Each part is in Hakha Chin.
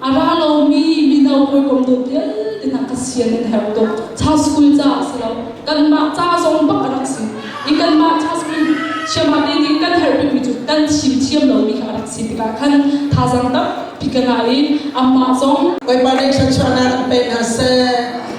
A ra lomi mino hawikom tu vialte hna ka sian in herh tuk. Cha school ca si lo. Kanmah ca zong bak a rak si. I kanmah cha school siamate nih kan herh bikmi cu kan thim thiam lomi kha a rak si tikah khan thazang tampi ka ngah i amah zong Bawipa nih thluachuah nan an pek hna seh.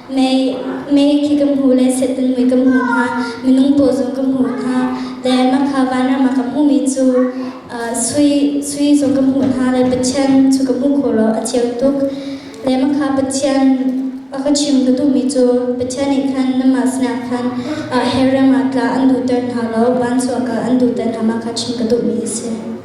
Mei, mei khi ka hmu le sehtun mui ka hmu hna, minung paw zong ka hmu hna, le makha vanram ah ka hmuhmi cu sui, sui zong ka hmuh hna le Pathian cu ka hmuh khawh lo a cheu tuk. Le makha Pathian a ka chim ka duhmi cu Pathian nih khan namah sinah khan her ram ah tla an duhter hna lo, van chuak ah an duhter hna makha chim ka duhmi a si.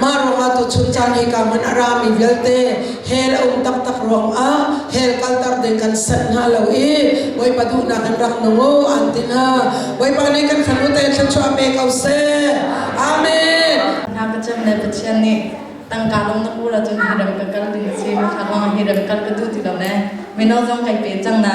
Mah ruangah tuchun caan hi ka hman a rami vialte hell a um taktak ruangah hell kalter ding kan sanh hna lo i Bawipa duhnak kan rak nungo an ti hna. Bawipa nih kan fanu te thluachuah pe ko seh. Amen. Hna pacem le Pathian nih tangka lung na pul ahcun hi ram ka kal ding a si. Mithla kong hi ram kal ka duh ti lo le mino zong kai pe cang na.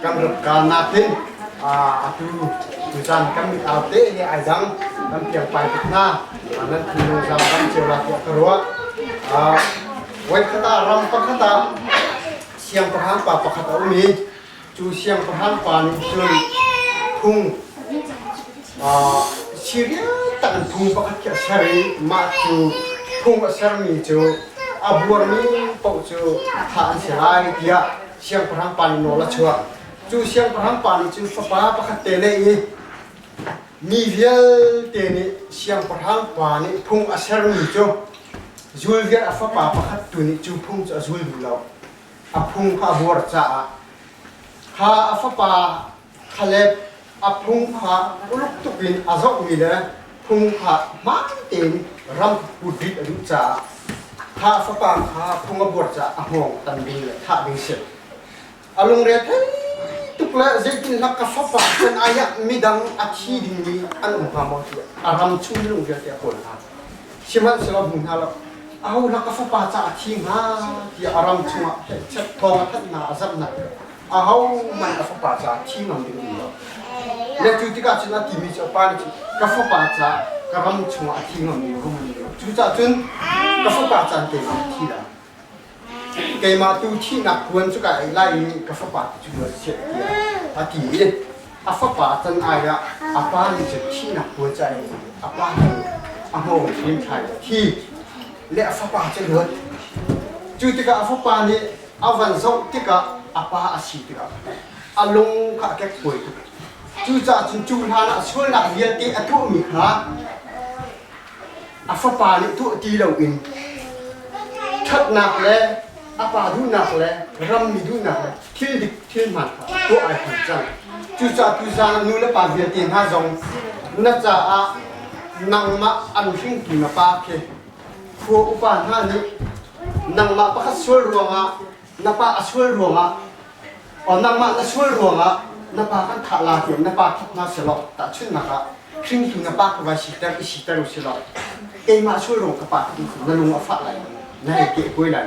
kan rat kalnak hin atu tuzan kan mitau te he ai dang kan piang pai tuk hna nan thinlung zang kan ceu la tiah ka ruah voi khata ram pakhata siang pahan pa pakhat a um i cu siang pahan pa nih cun phung Syria tak phung pakhat khi a ser i mah cu phung a sermi cu a buarmi paoh cu thah an si lai tiah siangpahrang pa nih nawl a chuah. Cu siangpahrang pa nih cun fapa pakhat te neih i mi vialte nih siangpahrang pa nih phung a sermi cu zul vial a fapa pakhat tu nih cu phung cu a zul duh lo. A phung kha a buar caah kha a fapa Khaleb a phung kha uluk tuk in a zohmi le phung kha hmaan tein ram put rih a duh caah Tha fapa kha phung a buar caah a hngawng tan ding le thah ding a si. A lungre thei tuk le zeitinhnak ka fafa can ai ah midang a thi dingmi an um hnga maw tiah a ram chung lung vialte a kawl hna. Sihmanhsehlaw hmu hna lo, au la ka fapa caah a thi hnga tiah a ram chungah phenhchet thawng a thanhnak a zamhnak ahohmanh a fapa caah thi ngam ding um lo le cu tikah cun a timi cu a pa nih cun ka fapa caah ka ram chungah a thi ngam ding rum ding lo cucaah cun ka fapa caan keimah thi la keimah tu thihnak kuan cu ka ei lai i ka fapa tu cu luat siah tiah a ti i a fapa can ai ah a pa nih cun thihnak kuan ca in a pa nih a hmawng hrim thlai a thi le a fapa cu a luat. Cu tikah a fapa nih a van zoh tikah a pa a si tikah a lung kha a kekkuai tuk. Cucaah cun cu hlan ah sualnak vialte a tuahmi kha a fapa nih tuah ti loin ṭhatnak le a pa duhnak le rammi duhnak le thil dik thilhman tuah ai hman cang. Cucaah tucaan ah nulepa vialte hna zong na caah nangmah an hringtu na pa khi khua upa hna nih nangmah pakhat sual ruangah na pa a sual ruangah o nangmah na sual ruangah na pa kan thah la tiang na pa thap hna silaw tahchunnak ah hringtu na pa ka vai siter i siter u silaw keimah sual ruang ka pa in na lung a fah lai na ei ke kuai lai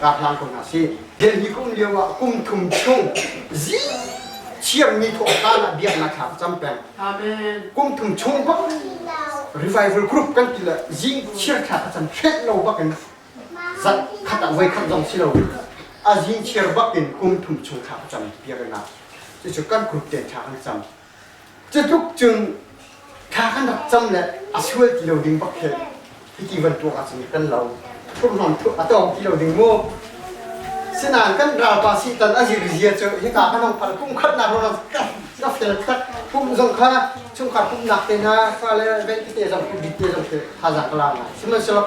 ka hlang ko hna sih. Delhi kum lio ah kum thum chung zi thiammi thawhkan ah biaknak thla cam peng. Amen. Kum thum chung bak revival group kan ti le zing chiar thla ka cam hret lo bak in zat khat ah voi khat zong si lo a zing chiar bak in kum thum chung thla ka cam piarnak. Cucu kan group ten thla kan cam. Cutluk cun thla kan rak cam le a sual ti lo ding bak khi hiti bantuk ah cun kan lo hurham a tawng ti lo ding mu sinain kan ralpa sitan a zir zia cu hika kan hong phar kum khat nak ron ka fel tak kum zong kha chungkhar pumnak te na fa le ven te zong bit te zong khi thazaang ka la ngai sihmanhsehlaw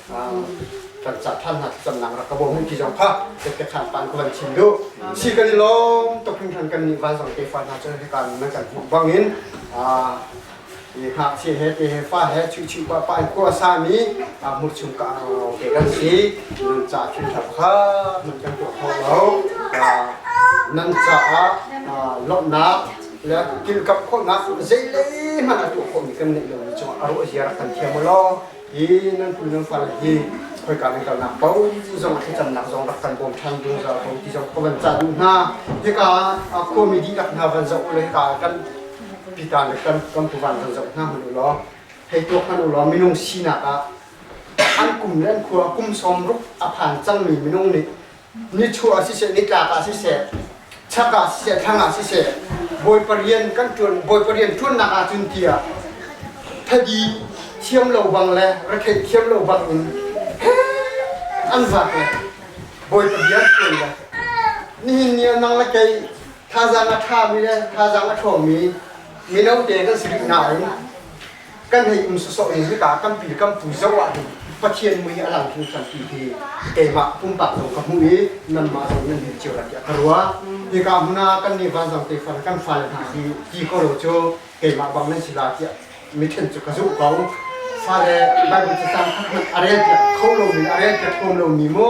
kan ca than hna cam nang rak ka bo mun ti zong kha tek te khan pan ko van chim du si kan i lom to kin khan kan ni val zong ke fa hna chan he kan nan kan hmu bang in a i hak chi he te he fa he chu chu ba pa ko sa mi a mu chung ka ke kan si nan cha thil thap kha man kan to kho lo nan cha a lomnak le kil kap kho nak zei le man atu kho mi kan nei lo mi chung a ro ziar kan thiam lo hi nan pu nan fa le hi khoika nan kalnak bo zong thlacamnak zong rak kan bawm ṭhan zungzal ko ti zong ka van cah duh hna hika a khuami dihlak hna van zoh ulaw hika kan pitan kan kan puvan van zoh hna hman ulaw hei tuak hman ulaw minung sinak ah an kum le an khua kum sawm ruk a phan cangmi minung nih nichuah ah siseh, nitlak ah siseh, chak ah siseh, thlang ah siseh, bawi parian kan ṭuan bawi parian ṭuannak ah cun tiah thadi thiam lo bang le retheih thiam lo bang in an vak le bawi parian ṭuan le nihin ni ah nang le kei thazang a ṭhami le thazang a ṭhawmi mino te kan si rih nain kan hei um sosok in hika tampi kamtu zo ah hin Pathian mui a lang thing than ti hi keimah pumpak zong ka hmuh i nanmah zong nan din cio tiah ka ruah hika hmuna kan nih vanzang te fan kan fale hna hi ti ko lo cu keimah bang nan si la tiah mithen cu ka zuh ko fale Bible cacang khat hmanh a rel piak kho lomi a rel piak kom lomi mu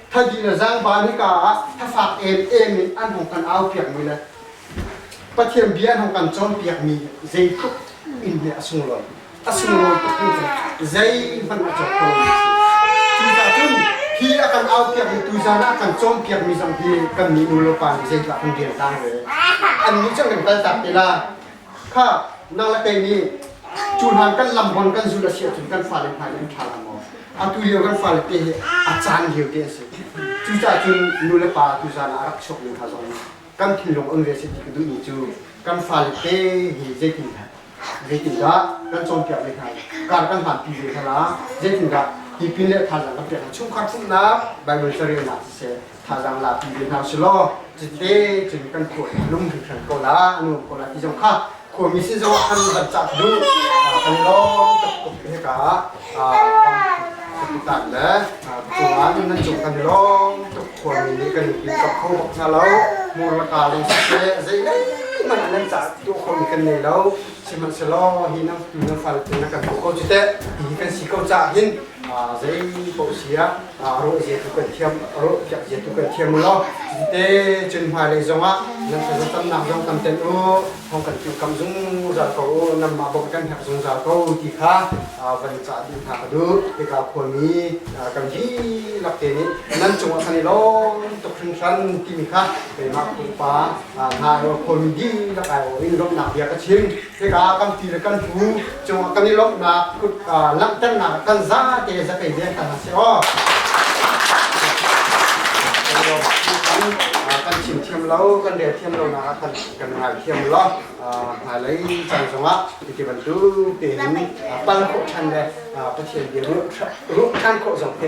thadi le zangban hika ah thafak em em in an hong kan au piak mi le pathian bia an hong kan cawn piak mi zeitluk in nih a sunglawi a sunglawi tuk in zei hmanh a cawk ko mi si cun hi a kan au piak mi tu zan ah kan cawm piak mi zong hi kan nih nu le pa nih zeitlak kan rian tang ve an nih cang kan kal tak tila kha nang le kei nih cu hlan kan lam hon kan zulh a si ahcun kan fale hna in an ṭha lo maw? Atu lio kan fale te hi a caan lio te a si. Cucacun nu le pa tu zan ah a rak chuak mi hna zong kan thinlung on ve a si ti ka duhmi cu kan fale te hi zeitin zeitindah kan cawnpiak ve hna i kar kan hlanpi ve hna la zeitindah tipil le thazaang kan pek hna chungkhar sunnak Baibal carelnak siseh thazaang la pi ve hna selaw cite cun kan khua a lung hringhran ko la a nuam ko la ti zong kha khuami si zong kan van cah duh kan lawm tuk tuk ne ka kapitan le cungan nan cung kan lawm tuk khuami nih kan in kap kho bak hna lo mur la ka lung se zei man nan cah tu khuami kan nei lo sihmanhselaw hi nan nan fal na kan ko cite hi kan si ko cah hin zei po sia a rawh zia tu kan thiam a rawh piak zia tu kan thiam u law te cun hmailei zongah nan thla tamnak zong tam ten u thong kan tu kam zungzal ko u nan ma bok kan herh zungzal ko ti kha van ca duh hna ka duh tika khuami kan vi lak te nih nan cungah khan i lawm tuk hringhran timi kha keimah pupa hna khuami di lak ai in lawmhnak bia ka chim hika kan ti le kan pu cungah kan i lawmhnak kut langhternak kan zate zakei deng kan si aw kan chim thiam lo kan rel thiam lo nak ah kan kan ngai thiam lo hmailei caan zongah hiti bantuk te hin pal khawh than le pathian bia ruh ruh than khawh zong te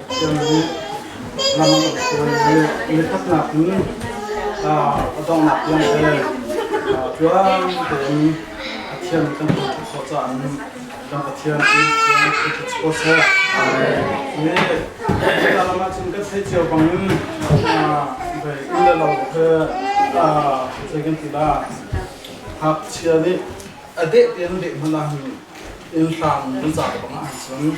Cun ram an rak sual. Nithaknak in a donghnak tiang tel tluang tein Pathian kan hmuh tuk khawh caah kan Pathian i sawseh. Hi lam ahcun kan theih cio bangin inn le lo he zei kan ti la, hngakchia nih a deh tein deh hmanh ah hin inn hlang kan cah bangah ahcun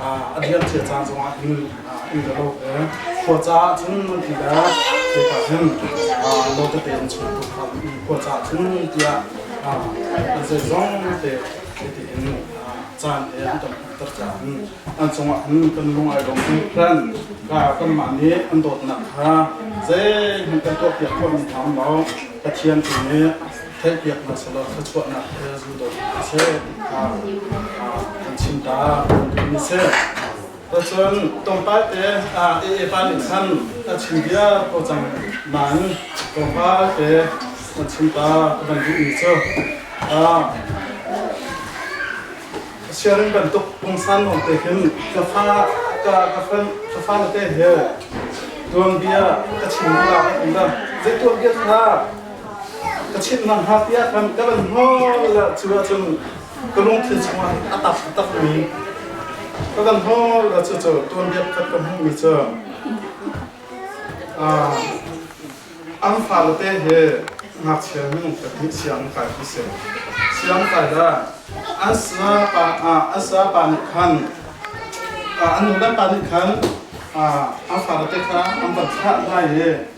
a bialcia ca zongah inn inn a lo khua caah cun mun ti le kekah hin lo tete in chung tu kha khua caah cun mun tiah an zei zong te tete in caan he an kan hmuhter caah hin an cungah hin kan lung ai lawm hin plan kan mah nih an dawtnak kha zeihmanh kan tuahpiak khawhmi hna um lo Pathian tu nih theihpiaknak sawlah thluachuahnak he zuudawt hna sih kan chimta kan duhmi sih Cun tongpal te AA pa nih khan a chim bia ko cang man tongpal te a chimta kan duhmi cu siarin bantuk pungsan lawng te khin ka fa ka ka fa na te he tuang bia ka chim lu la ka um da zei tuang bia kha ka chim na hngakbia kan ka lan hol cu ahcun ka lungthin chungah a tak takmi ka kan hol cu cu tuanbiak khat ka hmuhmi cu an fale te he ngakchia nu pahnih siang kai hi si siang kai da an sa pa an sa pa nih khan an nu dan pa nih khan an fale te kha an van thlah hna i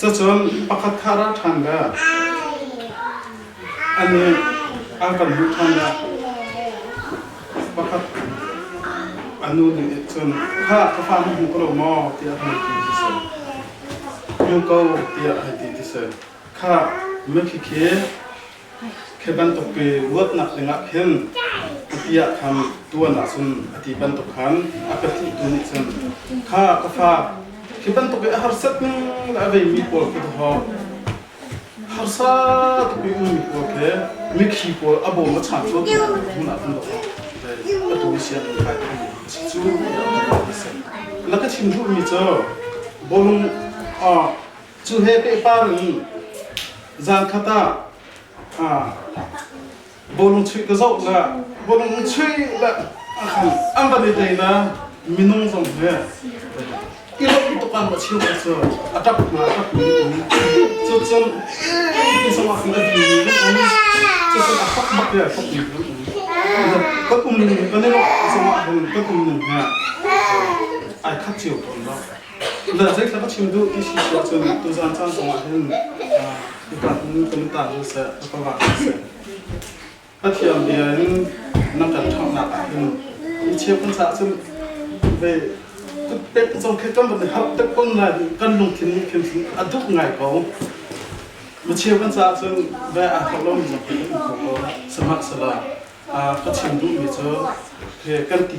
Cucun pakhat kha ra ṭhan ve. A nih an kan hmuh ṭhan ah pakhat a nu nih cun kha ka fa na hmu ko lo maw tiah a hei ti ti si. Hmu ko tiah a hei ti ti si. Kha mitthli khi Khi bantuk pi luatnak dingah khin kati ah khan tuan ahcun a ti bantuk khan a pahnih tu nih cun kha ka fa khi bantuk i a harsat ning le a veimi pawl khi hawh harsa tuk i ummi pawl khi mikhi pawl a bawm a chang cu tu hmun ah kan doh a tu sian kai tu si cu laka chim duhmi cu bawlung Cu he pehpami zan khat ah bawlung chuih ka zoh na bawlung chuih la khan an van i dei na minung zong he i lok tuk an chim cu a tap na a tap ni um cu cun ti song ah kan ti ni um cu cun a fak bak ya fak ni um kan um ning kan i lok song ah kan um ning he ai khat chiu ton lo Tuzaan zeithlap a chim duh ti si si ahcun tuzaan caan zong ah hin upat nu kan ta hnu seh ka ra seh. A thiam bia in nan kan ṭhanghnak ah hin i chiap kan ca cun ve pek ka cong khet kan bat hap tak kon la kan lungthin nih khin a duk ngai ko. Ma chia kan ca cun ve aa thok lo mi zong kan ko samaksala ka chim duh mi cu kan ti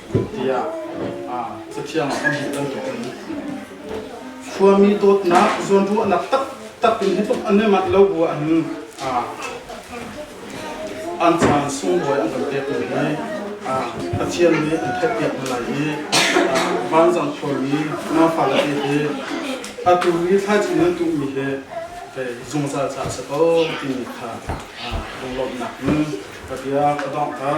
tiah cathiang ah kan hmuh bantukin khuami dawtnak zawnruahnak taktak in hi tluk anemat lo bu an an caan sunglawi an kan pek mi hi Pathian nih an theihpiak lai i vanzang khuami nafa le te hi atu hi thlaici nan tuh mi hi zungzal ca a si ko timi kha lunglawmhnak in ka biak ka donghter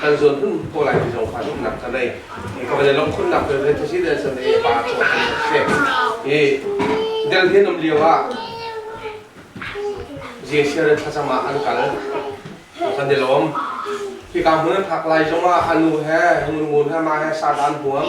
kan zuan hun ko lai mi zong fa zumhnak ka nei ka van long khun nak belte thasi de san e pa cho kan ka she i del hin um liu a je share thasama an kal kan de lom khi ka mun phak lai zong a anu he hung ngun he ma he sa dan huam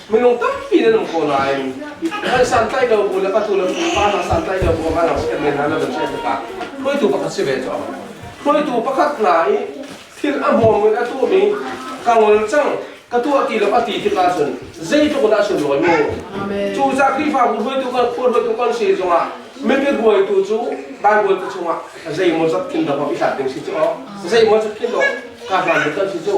minung tampi nan um ko nain kan santlai do bu le patu le pa hna santlai do bu hna rak si men hna lam chian takah hruaitu pakhat si ve cu hruaitu pakhat hna i thil a hmawm in a tu mi ka ngol chang ka tu a ti lo a ti tikah cun zeitluk dah sun loi mu cu za krifa bu hruaitu kan khur hruaitu kan si zongah mipit hruaitu cu bible ka chungah zeimaw zat khin da ba i hlat ding si chu o zeimaw zat khin do ka hlan kan si chu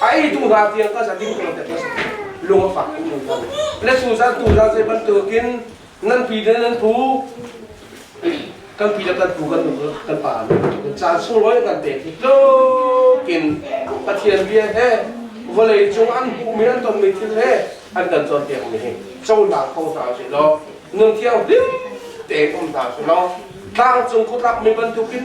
A ei tu hla vial ka zan ding ko te pas lung a fak tu nu kan le su zan tu zan se ban tukin nan pi de nan pu kan pi da kan pu kan nu kan pa kan cha sung roi kan te ti tlukin pathian bia he vawlei cung an hu mi an tom mi thil he an kan chon tiang mi he châu na phong ta si lo nung thiang dim te kom ta si lo tlang cung khutrak mi bantukin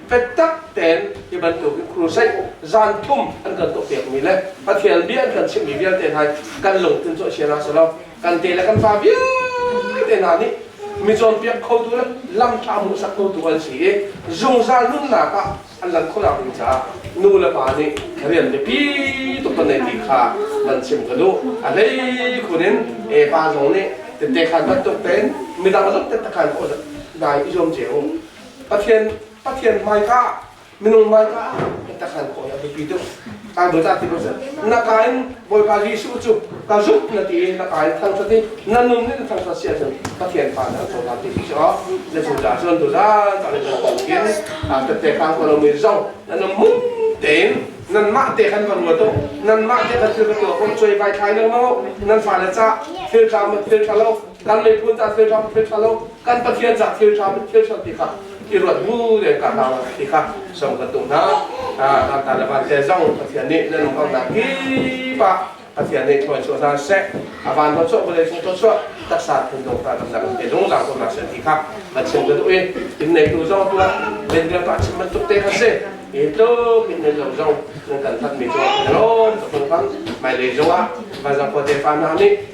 Fetak tein hi bantuk i crusade zan thum an kan tuah piakmi le Pathian bia an kan chimhmi vialte hna kan lungthin cu a chia hna silo kan te le kan fa vialte hna nih mi cawnpiak khotu le lamtla hmuhsak khotu an si i zungzal nunnak ah an lan khawhnak ding caah nu le pa nih rian biapi tuk kan nei ti kha van chim ka duh a hlei khun in epa zong nih tete khan bantuk tein midang zong tete khan dai i zuam ce u Pathian Pathian hmaika minung hmaika biatak nan kawi a biapi tuk kai bawi ta ti pasal na kain bawipa Jesuh cu ka zumh na ti i na kain thangṭhat i na nun in thangṭhat sia cun Pathian pa na ko ta ti ti so na cu ta cun tu zan ta le kan kin a tette kang ko lomi zong nan mun tein nan mah te kan van tuk nan mah te kan thil ka tuah kon choi vai thai leng no nan fa le cha thil tla ma thil tla lo kan miphun ca thil ṭha thil ṭha lo kan pathian ca thil ṭha thil ṭha ti kha i ruat mu le ka hlau ti kha som ka tu hna kan ta le van te zong pathian nih nan lungkamnak kip ah pathian nih tuan chuah hna seh a van lo chuah vawlei sung chuah taksa phun dong hna kan zang te zungzang ko na se ti kha a chim ka duh i in neitu zong tuah len le pa chim bantuk te kha si i tluk in ne lo zong kan tan mi cu lom ka phung kan mai le zong ah van zakho te pa na nih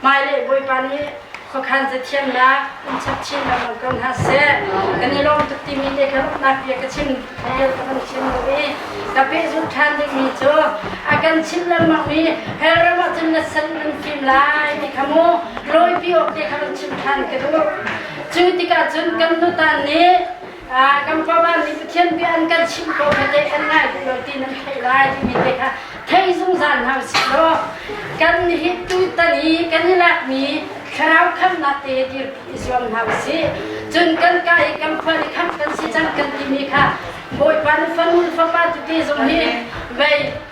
Hmailei Bawipa nih khuakhan zathiannak in chap chin lengmang ko hna seh. Kan i lawm tuk timi te ka ruahnak bia ka chim vial ka hman thiam lo i ka pehzulh ṭhan dingmi cu a kan chimh lengmangmi Hellram ah cun na sal in fim lai ti kha mu lawipi awk te kha run chim ṭhan ka duh. Cu tikah cun kan tutan nih kan pawman nih Pathian bia an kan chimh ko hi teh kan ngai duh lo ti nan theih lai timi te kha thei zungzal hna sih law kan hi tutan i kan i lakmi thlarau khamnak te dirpi zuam hna usih cun kan ka i kan fal i khamh kan si cang kan timi kha Bawipa nu fanu fapa tete zong hi vei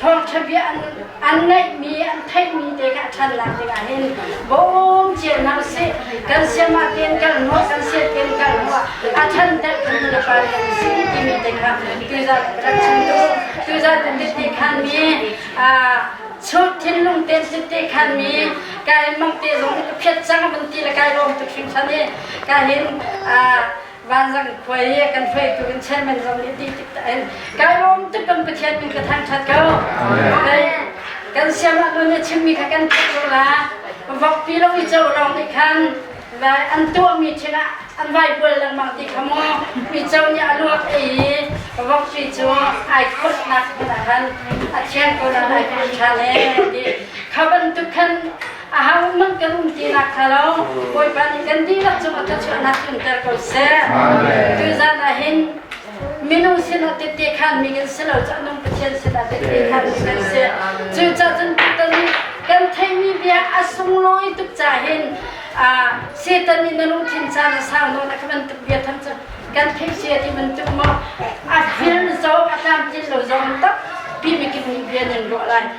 thawngṭha bia an, an ngaihmi, an theihmi te kha a ṭhannak dingah hin bawm cia hna usih. Kan siamah tein kal hmuh, kan sian tein kal hmuh, a ṭhanter tu na pa nih an si timi te kha tuzan ralchung tu, tuzan tete khanmi, church thinlung te tete khanmi, kai mang te zong a phiat cang van ti le kai lawm tuk hringhran i, ka hin, Vanzang khuai hi kan hruaitu kan chairman zong nih ti tik kai lawm tuk kan Pathian min ka thangthat ko. Kan siamah nun a chimmi kha kan theih ko la. Vokpi lo i co lawng nih khan an tuahmi thil ah an vai bual lengmang ti kha maw mico nih a luak i vokpi cu ai khawtnak hmun ah khan a thian ko nan ai khawt ṭhan e ti kha bantuk khan Ahang mang kan um ti nak kha lo Bawipa nih kan dihlak cungah thachuahnak tlunter ko seh. Tu zan ah hin minung sinah tete khan mi kan si lo cah nung Pathian sinah tete khan si kan si. Cu ca cun tutan nih kan theihmi bia a sunglawi tuk ca hin Satan nih na lungthin caan a sang nawn a ka bantuk bia thang cu kan theih si a ti bantuk maw a vil zong a tlamtlin lo zong takpi mikip nih bia nan ruah lai.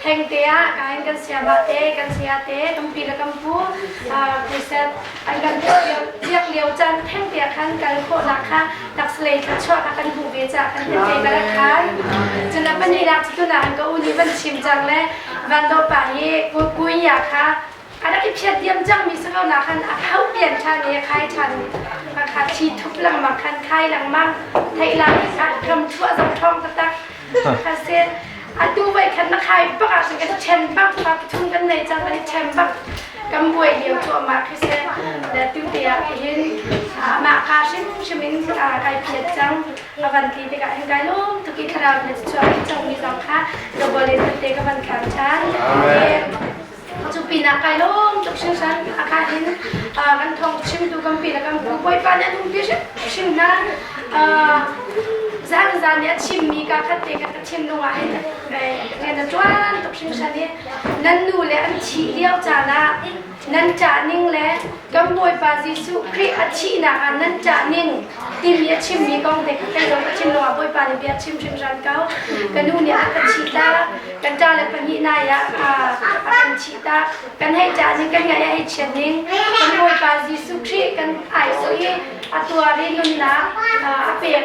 Thengte ah kain kan siamah te, kan saya te, tampi le kan pu Christian an kan biak lio caan thengte ah khan kal khawhnak kha taksalei thluachuahnak kan hmuh ve caah kan thengte ka rak kai. Cun a pahnih nak cu tunah an ka u nih van chim cang le van no pa hi kuin kha a rak i phiat diam cangmi si lo nak khan a thau pian ṭhan i a khai ṭhan a kha thi thup lengmang khan khai lengmang theihlang ah ram chuah zong ṭhawng taktak kha sen atu vai khan na khai bak ah sin ka chen bak pa pathum kan nei cang kan i chen bak kan buai lio cuahmah khi se da tu te ah tihin mah ka hrim hrim in kai phiat cang avan ti tikah hin kai lum tuki thlarau ne chuah cangmi zong kha ka bolin te ka van khang ṭhan Cu pinah kai lawm tuk hringhran. A ka in kan thong chimtu kan pi le kan pu Bawipa nih a lungpi hrim hna. Zan zan nih a chimmi ka khat te kan ka thinlung ah hin rian a tuan tuk hringhran i nan nu le an thih lio caan ah nan ṭah ning le kan Bawipa Jesuh Khrih a thihnak ah nan ṭah ning timi a chimmi kong te kha kan lung a thin lung ah Bawipa nih bia chim hrimhram ko. Ka nu nih a kan thih tak, kan ṭa le pahnih nai ah a kan thih tak. Kan hei ṭah ning, kan ngaih a hei chiat ning. Kan Bawipa Jesuh Khrih kan ai sawh i a tuar i nunnak a pek.